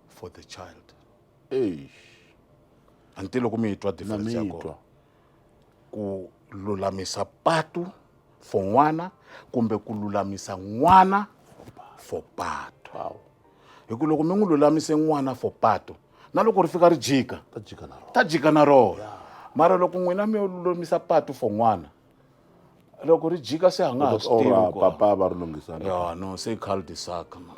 for the child eish anti loko mi twa difference ya kona ku lulamisa patu for n'wana kumbe ku lulamisa n'wana for patu wow. hi ku loko mi n'wi lulamise n'wana for patu na loko ri fika ri jika ta jika na rona yeah. mara loko n'wina mi yo lulamisa patu for n'wana loko ri jika se a nga ha swi tivi Ora ku papa va ri lunghisana ya no se cul de sac ma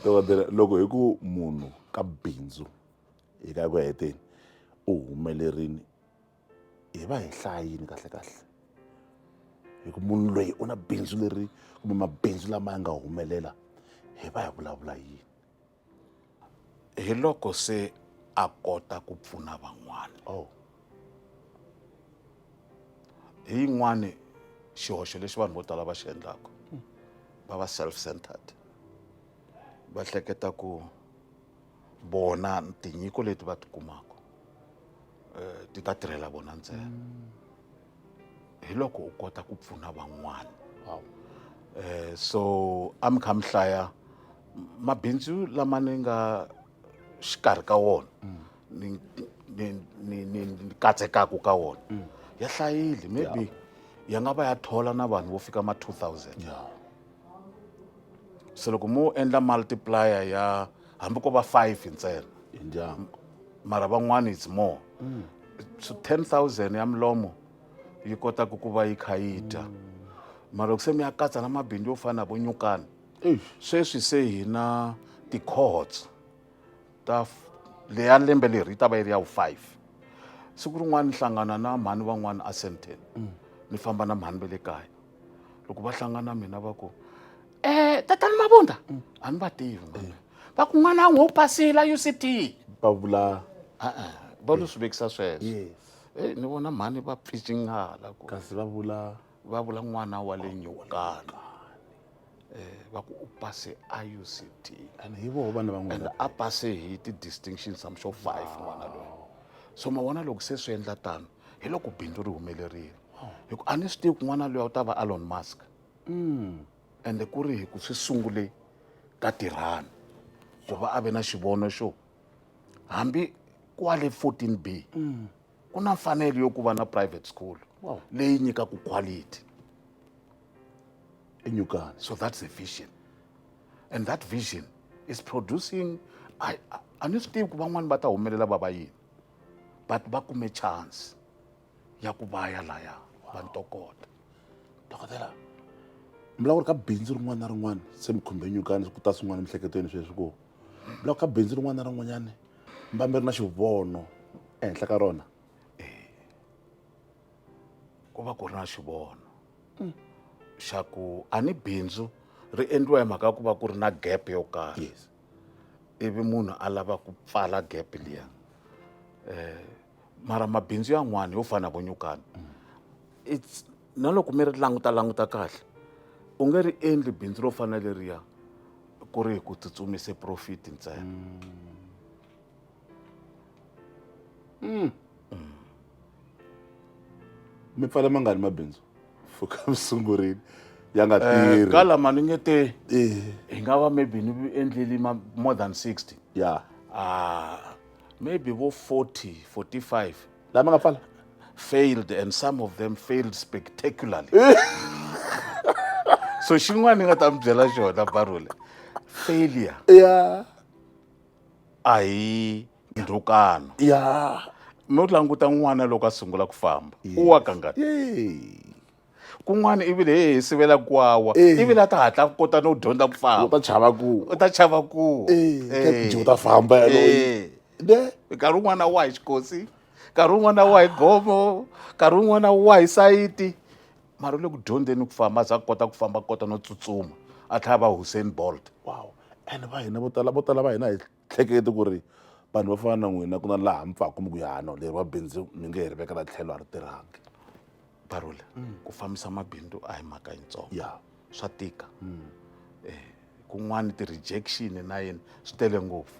dokodela loko hi ku munhu ka bindzu hi ka ku heteni u humelerini hi va hi hlayini kahle kahle hi ku munhu loyi u na bindzu leri kumbe mabindzu lama ya nga humelela hi va hi vulavula yini hi loko se a kota ku pfuna van'wana oh. hi yin'wani xihoxo lexi vanhu vo tala va xi endlaka va va self centered va hleketa ku vona tinyiko leti va ti kumaka um ti ta tirhela vona ntsena mm. hi loko u kota ku pfuna van'wana wow. eh, so a mi kha mi hlaya mabindzu lama ni nga xikarhi ka wona mm. ni, ni, ni, ni, ni katsekaku ka wona mm. ya hlayile maybe yeah. ya nga va ya thola na vanhu vo fika ma 2000 yeah. se loko mo endla multiplier ya hambi ko va five ntsena hi ndyangu mara van'wana it's more mm. so ten thousand ya milomo yi kotaka ku va yi kha yi dya mara loko se mi ya katsa na mabindzu yo fana na vo nyukana sweswi se hi na ti-cohorts ta leya lembe leri yi ta va yi ri ya wu-five siku rin'wana ni hlangana na mhani van'wana a sandton mm. ni famba na mhani ve le kaya loko va hlangana mina va ku um tatani mavunda mm. a ni va tivi mani mm. va ku n'wana n'wi u pasile u c t va vula e-e va lo swi vekisa sweswo e eh, ni vona mhani va pficingala ku kasi va vula va vula n'wana wa le nyokana um eh, va ku u pase a u c t and hi voho vana van'wana a pase hi ti-distinctions am sure five n'wana loyi so ma vona loko se swi endla tano hi loko bindzu ri humelerile hi ku a ni swi tivi ku n'wana loyi u ta va alon mask mm. ende ku ri hi ku swi sungule ka tirhani ku va a ve na xivono xo hambi kwale 14 b mm. ku na mfanelo yo ku va na private school leyi nyikaku quality enyukani so that's a vision and that vision is producing a ni swi tivi ku van'wani va ta humelela va va yini but va kume chance ya ku va ya laya va ntokota dokodela mi lava ku ri ka bindzu rin'wana na rin'wana se mi khumbe nyukani ku ta swin'wana emiehleketweni sweswi ku mi lava ku ka bindzu rin'wana na rin'wanyana mi va mi ri na xivono ehenhla ka rona ku va ku ri na xivono xa ku a ni bindzu ri endliwa hi mhaka ya ku va ku ri na gap yo karhi yes ivi munhu a lava ku pfala gap liya eh mara mabindzu yan'wana yo fana vo nyukana it's na loko mi ri languta languta kahle u nge ri endli bindzu ro fana leriya ku ri hi ku tsutsumise profit ntsena mm. Mm. mi pfale mangani mabindzu fuka mi sungurile ya nga Eh, tirhi ka lama ni nge te Eh, hi nga va maybe ni endleli ma- more than 60 ya ah maybe vo 40 45 lama nga pfala failed and some of them failed spectacularly so xin'wana ni nga ta mi byela xona barole failure ya a hi ndhukano ya no languta n'wana loko a sungula ku famba u wa kangani kun'wana ivile he hi sivela ku wawa ivile a ta hatla ku kota no dyondza ku famba u ta chava ku u ta chava ku u ta famba yaloye nkarhi wun'wana wa hi xikosi nkarhi wun'wana wa hi gomo nkarhi wun'wana wa hi sayiti mara u le ku dyondzeni ku famba a za a kota ku famba kota no tsutsuma a tlhela va Hussein Bolt wow and va hina vo tala vo tala va hina hi hlekete ku ri vanhu va fana na n'wina ku na laha mi pfaka mi ku yano leri wa bindzu mi nge hi ri vekela tlhelo a ri tirhangi barole ku fambisa mabindzu a hi mhaka yitsongo ya swa tika eh kun'wani ti-rejection na yini swi tele ngopfu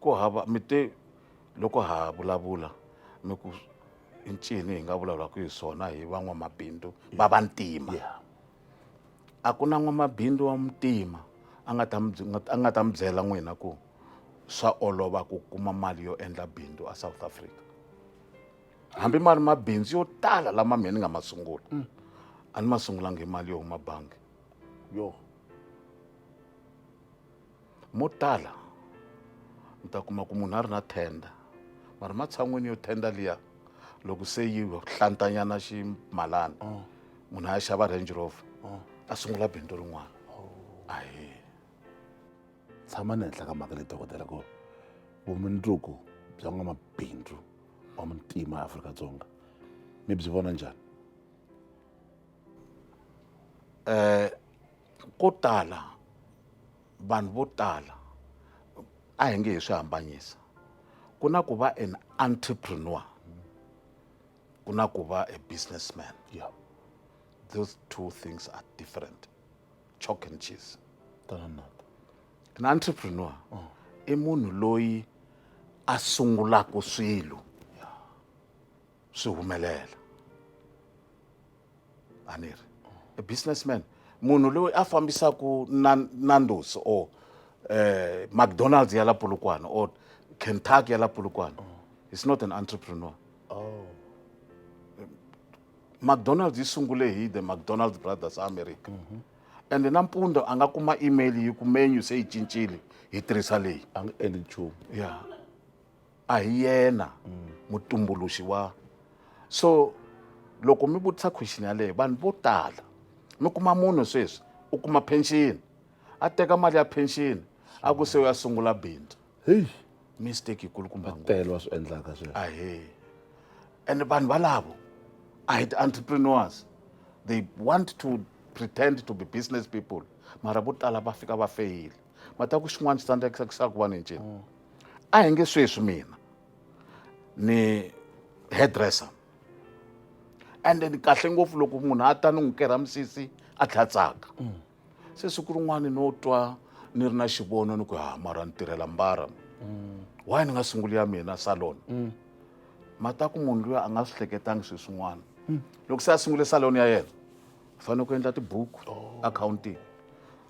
ku hava mi te loko ha vulavula mi ku i ncini hi nga vulavulaka hi swona hi van'wamabindzu va vantima a ku na n'wamabindzu wa muntima a nga ta mi a nga ta mi byela n'wina ku swa olova ku kuma mali yo endla bindzu a south africa hambi ma ri mabindzu yo tala lama mina ni nga ma sungula mm. a ni ma sungulanga hi mali yo huma bangi yo mo tala u ta kuma ku munhu a ri na tenda mara matshan'wini yo tenda liya loko se yi hlantanyana ximalana oh. munhu a ya xava range rover oh. a sungula bindzu rin'wana oh. ahe tshama ni henhla ka mhaka leyi dokodela ku vumundzuku bya n'wamabindzu wa muntima ya afrika dzonga mi byi vona njhani eh ko tala vanhu vo tala a hi nge hi swi hambanyisa ku na ku va an entrepreneur ku na ku va a businessman yeah. those two things are different chalk and cheese an entrepreneur oh. i munhu loyi a sungulaka swilo swi humelela a ni ri a businessman munhu loyi a fambisaka nandos or um eh, mcdonalds ya la polokwane or kentucky ya la polokwane is not an entrepreneur oh. mcdonalds yi sungule hi the mcdonalds brothers america mm -hmm. and nampundzu a nga kuma email yi ku menu se yi cincile hi tirhisa leyi a nga endli nchumu ya yeah. a hi yena mutumbuluxi wa so loko mi vutisa question yaleyo vanhu vo tala mi kuma munhu sweswi u kuma pension a teka mali ya pension a ku se u ya sungula bindzu heyi mistake yikulukumba ngopfu tele wa swi endlaka sweswo ahe and vanhu valavo a hi ti-entrepreneurs they want to pretend to be business people mara vo tala va fika va feyile ma ta ku xin'wana xi ta ndlekisa ku swa ku va ni ncini mm. a hi nge sweswi mina ni hairdresser and then kahle ngopfu loko munhu a ta ni n'wi kerha misisi a tlha tsaka mm. se siku rin'wana no twa ni ri na xivono ni ku ha ah, mara ni tirhela mbara mm. why ni nga sunguli ya mina salon mm. ma ta ku munhu loyi a nga swi hleketangi swi swin'wana loko se a sungule salon ya yena u fanele ku endla tibuku oh. akhawuntini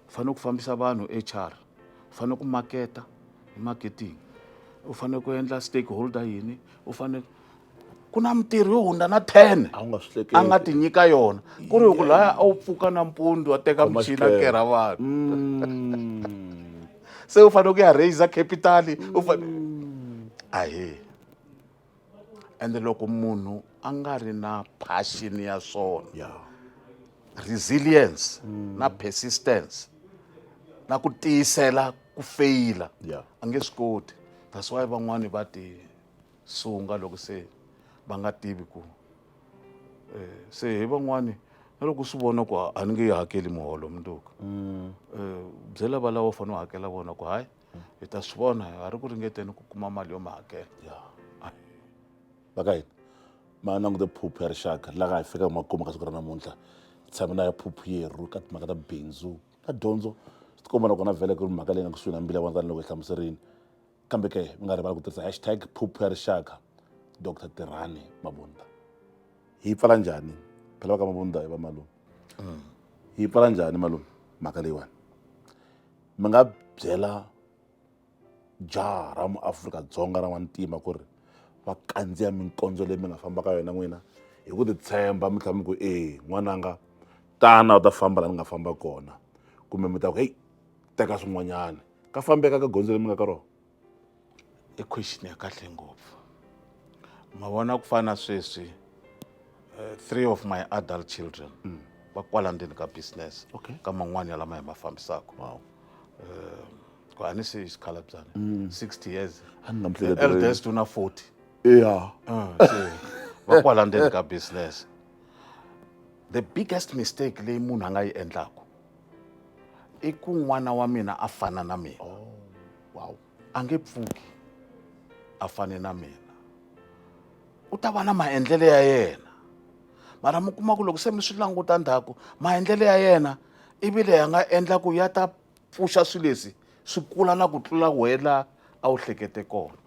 u fanele ku fambisa vanhu HR u fanele ku maketa hi marketing u fanele ku endla stakeholder yini u fanele ku na mitirho yo hundza na ten a wu nga swi hleketi a nga ti nyika yona ku ri ku laya a wu pfuka nampundzu a teka Khoma muchini a xiphemu. kerha vanhu Mm. se u fanele ku ya raiser capital u fanele ahe ende loko munhu a nga ri na passion ya swona yeah. resilience mm. na persistence na ku tiyisela ku feyila yeah. a nge swi koti that's why van'wani va ti sunga loko se va nga tivi ku eh, se hi van'wani na loko swi vona ku a ni nge yi hakeli muholo mundzuku mm. eh, byela va lava u fanele u hakela vona ku hayi hi ta swi vona a ri ku ringeteni ku kuma mali yo mi hakela ya va ka hina ma langute phuphu ya rixaka la nga hi fika makumu ka siku ra namuntlha hi tshame na ya phuphu yerhu ka timhaka ta bindzu na dyondzo swi tikomba nakona vhele ku ri mhaka leyi nga kusuhi na mbila wa ndzani loko hi hlamuserini kambe ke mi nga rivali ku tirhisa hashtag phuphu ya rixaka dr tirhani mabunda hi yi pfala njhani phela va ka mabunda hi va malume hi yi pfala njhani malume mhaka leyiwani mi nga byela jaha ra muAfrika-Dzonga ra n'wantima ku ri va kandziya minkondzo leyi mi nga famba ka yona n'wina hi ku titshemba mi tlhela mi ku e n'wananga tana u ta famba laha ni nga famba kona kumbe mi ta ku heyi teka swin'wanyana ka fambeka ka gondzo leri mi nga ka rona i question ya kahle ngopfu ma vona ku fana sweswi uh, three of my adult children mm. va kwala ndzeni ka business okay. ka man'wani ya lama hi ma fambisaka wow. uh, ku a ni se xikhalabzana mm. 60 years eldest una 40 yeah. uh, so, va kwala ndzeni ka business the biggest mistake leyi munhu a nga yi endlaku i ku n'wana wa mina a fana na mina oh, wow. a nge pfuki a fane na mina u ta va na maendlelo ya yena mara mi kuma ku loko se mi swi languta ndhaku maendlelo ya yena ivi leyi a nga endla ku ya ta pfuxa swilo leswi swi kula na ku tlula wena a wu hlekete kona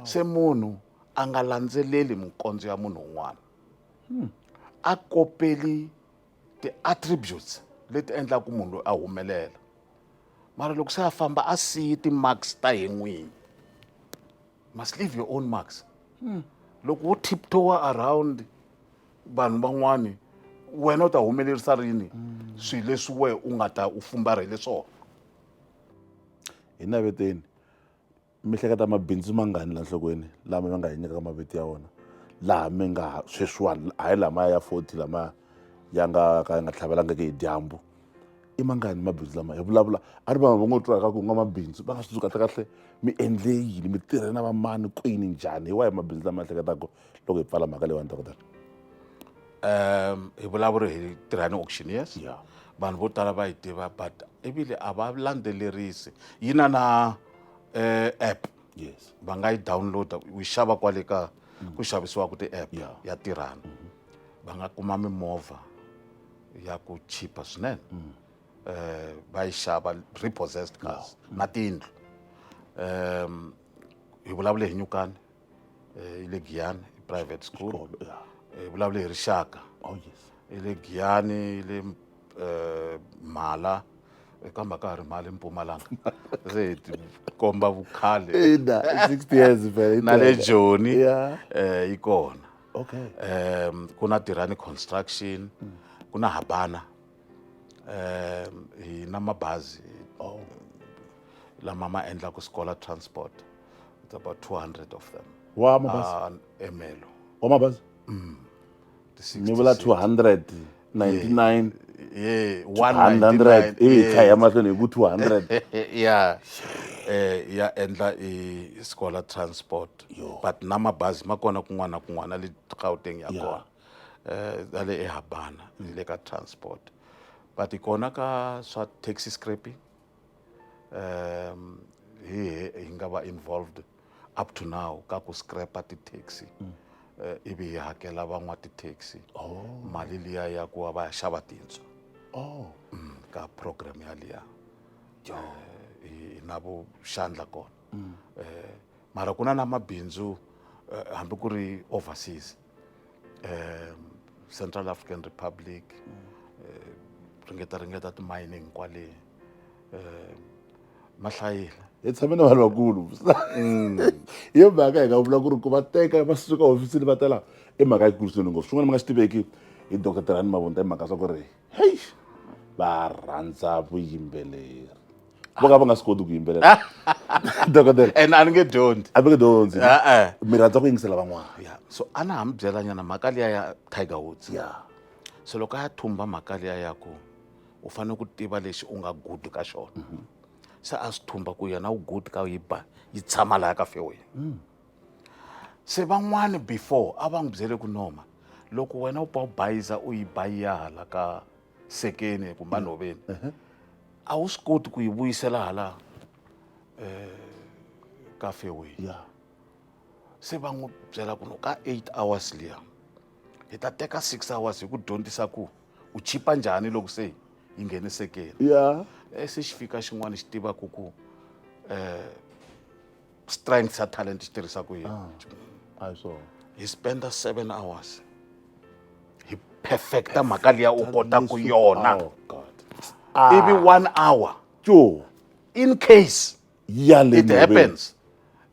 se munhu a nga landzeleli minkondzo ya munhu un'wana hmm. a kopeli ti-attributes leti endlaka munhu loyi a humelela mara loko se a famba a siyi ti-marks ta hi n'winyi must leave your own marks hmm. loko wo tiptowa around vanhu van'wani wena u ta humelerisa rini hmm. swilo leswi we u nga ta u fumbarhele swona hi naveteni mi hleketa mabindzu mangani la nhlokweni lama mi nga hi nyikaka mavito ya wona laha mi nga sweswiwani hayi lamaya ya forty lamaya ya nga ka ya nga tlhavelangiki hi dyambu i mangani mabindzu lama hi vulavula a ri vanhu va ngo twa ka ku nga mabindzu va nga swi tsundzuka kahle kahle mi endle yini mi tirhe na vamani kwini njhani hi wahi mabindzu lama ehleketaka loko hi pfala mhaka leyiwani dokodela um hi vulavuri hi tirhani auctioneers ya vanhu vo tala va yi tiva but ivile a va landzelerisi yi na na eh, app yes va nga yi downloada u yi xava kwale ka mm. ku xavisiwaka ti-app yeah. ya tirhana mm -hmm. va nga kuma mimovha ya ku chipa swinene mm. eh, va yi xava repossessed cars no. na tiyindlu um hi vulavule hi nyukani eh, le giyani private school oh, yeah. eh, vulavule hi rixaka oh, yes. le giyani le eh, mhala eka mhaka ha ri mali mpumalanga se hi tikomba vukhale na le joni um eh, yi kona um ku na tirhani construction mm. ku na habana um hi na mabazi oh. lama ma endlaka sikola transport it's about 200 of them wa mabazi ah, emelo wa mabazi mm. ni vula 200 99 yeah, 100 eh kha ya mahlweni hi ku 200 yeah eh ya endla i sikola transport but na mabazi ma kona kun'wana na kun'wana le Gauteng ya kona ta le ehabana ni le ka transport but kona ka swa taxi scraping um hi hi nga va involved up to now ka ku scrapa ti-taxi mm. eh, ivi hi hakela van'wa ti-taxi oh. mali liya ya ku va va ya xava tintswa oh. mm, ka program yaliya oh. eh, na vuxandla kona mm. eh, mara ku na na mabindzu eh, hambi ku ri overseas um central african republic um ringeta ringeta ti-mining kwale um ma hlayile hi tshame na vanhu vakulu mm. hi yo mhaka hi nga vula ku ri ku va teka va suka hofisini va tela i mhaka yikulu swinene ngopfu swin'wana mi nga swi tiveki hi doctor tirhani mavunta i mhaka swa ku ri heyi va rhandza vuyimbeleri vo ka va nga swi koti ku yimbelela dokodela and a ni nge dyondzi a mi nge dyondzi E-e. mi rhandza ku yingisela van'wana ya so a na ha mi byelanyana mhaka liya ya tiger woods ya so loko a ya thumba mhaka liya ya ku u fanele ku tiva lexi u nga good ka xona se a swi thumba ku yena u good ka yi ba yi tshama laya ka fairway se van'wani before a va n'wi byele ku noma loko wena u pa u bayiza u yi bayiya hala ka sekeni kumbe a nhoveni a wu swi koti ku yi vuyisela hala um ka fairway se va n'wi byela ku no ka eight hours liya hi ta teka six hours hi ku dyondzisa ku u chipa njhani loko se yi nghene sekeni ya eh, se xi fika xin'wana xi tivaku ku um strength xa talent xi tirhisa ku yini ah, a hi swona hi spenda seven hours hi perfecta mhaka liya u kota ku yona oh, ah. ivi one hour jo in case it happens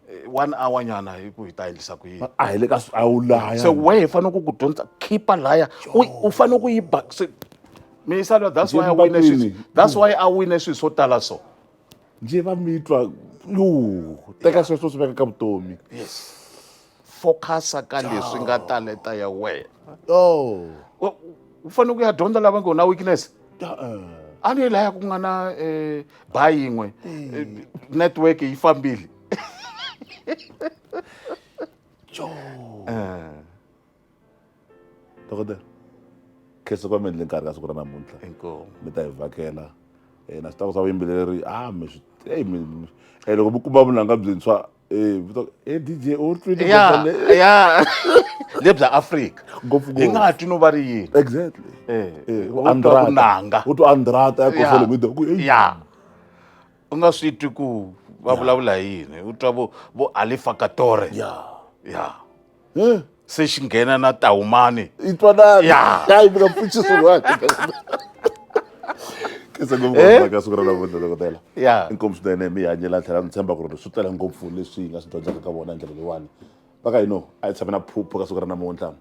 eh, one hour nyana hi ku hi ta endlisa ku yini a hi le ka a wu laya se we hi fanele ku ku dyondza khipa laya u fanele ku yi ba mi yisa that's why i wine that's why i wine swilo swo tala so njhe va mi twa yu teka sweswo swi veka ka vutomi yes focus-a ka leswi nga taleta ya wena oh U- u fanele ku ya dyondza lava ngo na weakness uh-uh. a ni laya ku nga na um ba yin'we eh, network yi fambile Joo. Eh. dokotela khese va mi endle nkarhi ka siku ra namuntlha mi ta hi vhakela um na swi tava swa vuyimbeleri a ah, mi swi eyi mi um eh, loko mi kuma vunanga byintshwa um vito e d j u twile ya ya le bya afrika hi nga ha twi no va ri yini exactly andrata u twa andrata ya kosele mi doku ya u nga swi twi ku va vulavula hi yini u twa vo vo alifakatore ya ya se xi nghena na tahumani i twanani Ya. hayi mi nga pfuxi swin'wana kisa ngopfu Eh? ngopfu ka siku ra namuntlha dokotela Ya. inkomu swinene mi hanyela tlhela ni tshemba ku ri swi tele ngopfu leswi hi nga swi dyondzaka ka vona hi ndlela leyiwani va ka hino a hi tshame na phupho ka siku ra namuntlha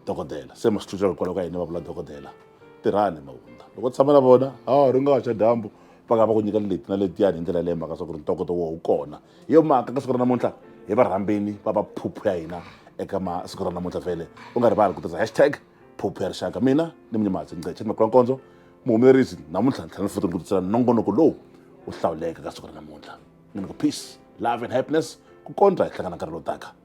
dokodela se ma swi tlulela hikwalaho ka hina va vula dokodela tirhani mawundla loko u tshama na vona a ri nga xa dyambu va nga va ku nyika leti na letiyani hi ndlela leyi mhaka swa ku ri ntokoto wo wu kona hi yo mhaka ka siku ra namuntlha hi va rhambeni va va phuphu ya hina eka masiku ra namuntlha vhele u nga rivali ku tirhisa hashtag phuphu ya rixaka mina ni munyimatsi ngceche makula nkondzo muhumelerisi namuntlha ni tlhela ni futi ni ku titsela nongonoko lowu u hlawuleke ka siku ra namuntlha ni ni ku peace love and happiness ku kondza hi hlangana nkarhi lowu taka